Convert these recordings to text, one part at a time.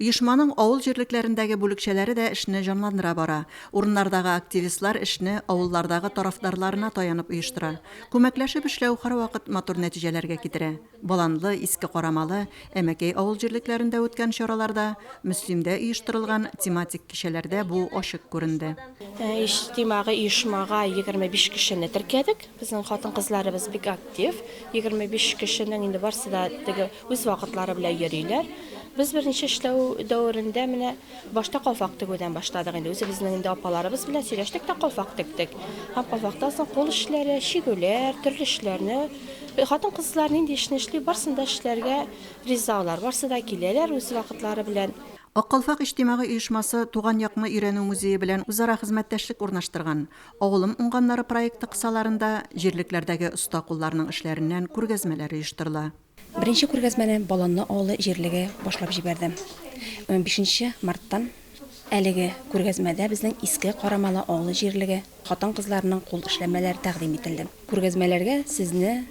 Оешманың авыл җирлекләрендәге бүлекчәләре дә эшне җанландыра бара. Урыннардагы активистлар эшне авыллардагы тарафдарларына таянып оештыра. Күмәкләшеп эшләү һәрвакыт матур нәтиҗәләргә китерә. Баланлы, Иске Карамалы, Әмәкәй авыл җирлекләрендә үткән чараларда, Мөслимдә оештырылган тематик кичәләрдә бу ачык күренде. Иҗтимагый оешмага егерме биш кешене теркәдек. Безнең хатын-кызларыбыз бик актив. Егерме биш кешенең инде барсы да теге Үз вакытлары белән йөриләр. Без беренче эшләү дәверендә менә башта калфак тегүдән башладык инде. Үзебезнең инде апаларыбыз белән сөйләштек тә калфак тектек. Һәм калфактан соң кул эшләре, чигүләр, төрле эшләрне э, хатын-кызлар нинди эшне эшли, барысын да эшләргә риза алар. Барысы да киләләр үз вакытлары белән. Ак калфак иҗтимагый оешмасы Туган якны өйрәнү музее белән үзара хезмәттәшлек урнаштырган. Авылым уңганнары проекты кысаларында җирлекләрдәге оста кулларның эшләреннән күргәзмәләр оештырыла. Беренче күргәзмәне Баланны авылы җирлеге башлап җибәрде. Унбишенче марттан әлеге күргәзмәдә безнең Иске Карамалы авылы җирлеге хатын-кызларының кул эшләнмәләре тәкъдим ителде. Күргәзмәләргә сезне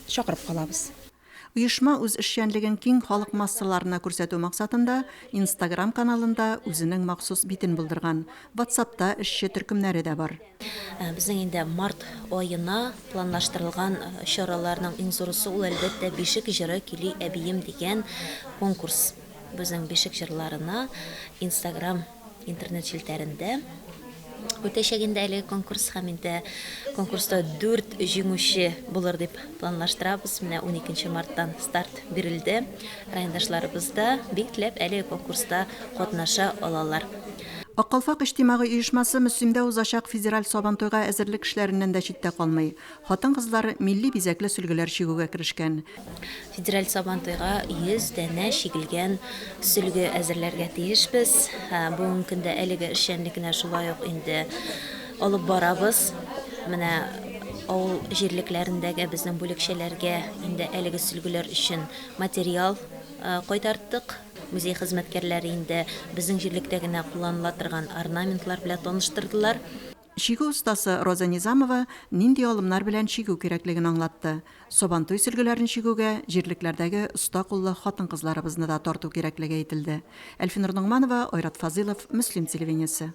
чакырып калабыз. Оешма үз эшчәнлеген киң халык массаларына күрсәтү максатында Инстаграм каналында үзенең махсус битен булдырган. Ватсапта эшче төркемнәре дә бар. Безнең инде март аена планлаштырылган чараларның иң зурысы ул, әлбәттә, Бишек җыры көйли әбием дигән конкурс. Безнең Бишек җырларына Инстаграм интернет челтәрендә үтәчәк инде әлеге конкурс һәм инде конкурста дүрт җиңүче булыр дип планлаштырабыз. Менә уникенче марттан старт бирелде. Райондашларыбыз да бик теләп әлеге конкурста катнаша алалар. Ак калфак иҗтимагый оешмасы Мөслимдә узачак федераль Сабантуйга әзерлек эшләреннән дә читтә калмый. Хатын-кызлар милли бизәкле сөлгеләр чигүгә керешкән. Федераль Сабантуйга 100 данә чигелгән сөлге әзерләргә тиешбез. Бүгенге көндә әлеге эшчәнлекне шулай ук инде алып барабыз. Менә авыл җирлекләрендәге безнең бүлекчәләргә инде әлеге сөлгеләр өчен материал кайтарттык. Музей хезмәткәрләре инде безнең җирлектә генә кулланыла торган орнаментлар белән таныштырдылар. Чигү остасы Роза Низамова нинди алымнар белән чигү кирәклеген аңлатты. Сабантуй сөлгеләрен чигүгә җирлекләрдәге оста куллы хатын-кызларыбызны да тарту кирәклеге әйтелде. Әлфинур Ногманова, Айрат Фазыйлов, Мөслим телевидениесе.